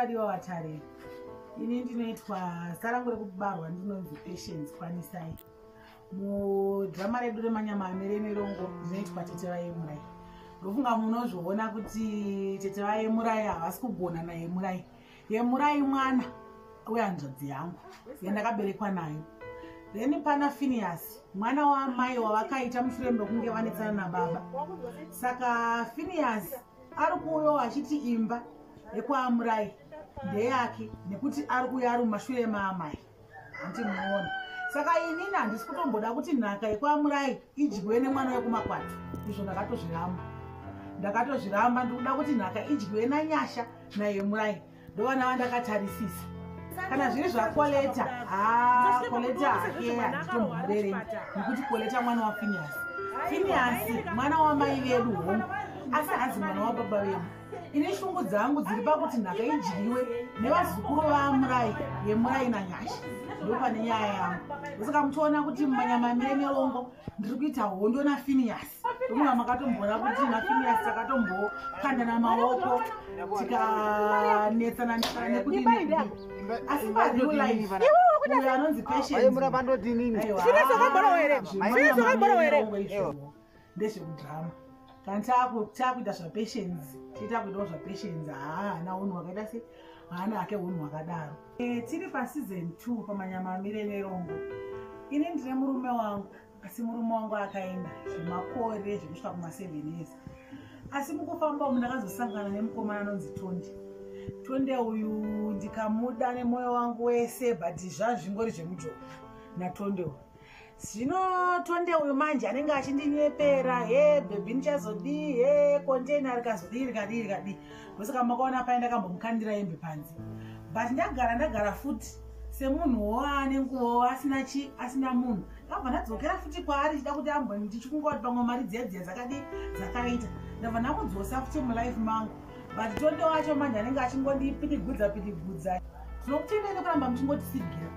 vadiwa vatare ini ndinoitwa sarangu rekubarwa ndinonzi patience kwanisai mudhirama redu remanyama amere mirongo ndinoitwa tete vayemurai ndofunga munozviona kuti tete vayemurai havasi kugona nayemurai yemurai mwana wehanzvadzi yangu yandakaberekwa nayo then pana finiasi mwana waamai wavakaita mushure mekunge vanetsana nababa saka finiasi ari kuuyawo achiti imba yekwaamurayi ndeyake nekuti ari kuuya ari mumashure maamai hanti muona saka inini handisi kutomboda kuti nhaka yekwamurai idyiwe nemwana wekumakwati izvo ndakatozviramba ndakatozviramba ndikuda kuti nhaka idyiwe nanyasha naye murai ndovana vandakatarisisa kana zviri zvakoleta ah, koleta hakeya nditomhorere nekuti koleta mwana wafiniyasi finiyasi mwana wamai vedu hongu asi hanzi mwana wababa vedu ini shungu dzangu dziri pakuti nhaka idyiwe nevazukuru vamurai yemurai nanyasha ndopane nyaya yangu ndosaka muchiona kuti mumanyama mire merongo ndiri kuita hondo nafiniyas ndomuva makatomboona kuti nafiniyas takatombokandana maoko tikanetsana netsana nekudii asi pazilife uyo anonzi patienceaemuravandodinini ndezvekudrama kana chakuita zvapatience chiita kuitawo zvapatience haa hana unhu hwakaita se hana hake unhu hwakadaro eh, tiri paseason two pamanyama amire nerongo ini ndine murume wangu asi murume wangu akaenda zvemakore zvekusvika kumaseven years asi mukufamba umu ndakazosangana nemukomana anonzi tondi tonde uyu ndikamuda nemoyo wangu wese but zvazvingori zvemujoka natonde uyu zvino tonde uyu manje anenge achindinyepera he bhebhi ndichazodii he kontena rikazodii rikadii rikadii ndosaka makaona paye ndakambomukandira yembe panze but ndagara ndagara futi semunhu woane nguva asina chi asina munhu ndabva ndadzokera futi kwaari chida kuti amboni ndichikunga kuti pamwe mari dziya dziya dzakadii dzakaita ndabva ndamudzosa futi mulife mangu but tonde wacho manje anenge achingondipidigudza pidigudza tinokutendai nekuramba muchingotisigira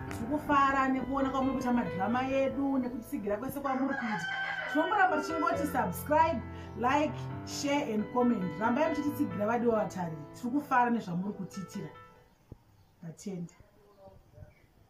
tiri kufara nekuona kwamuri kuita madhirama edu nekutisigira kwese kwamuri kuita tinongoramba tichingoti subscribe like share and comment rambai muchitisigira vadiwa vatari tiri kufara nezvamuri kutiitira vatenda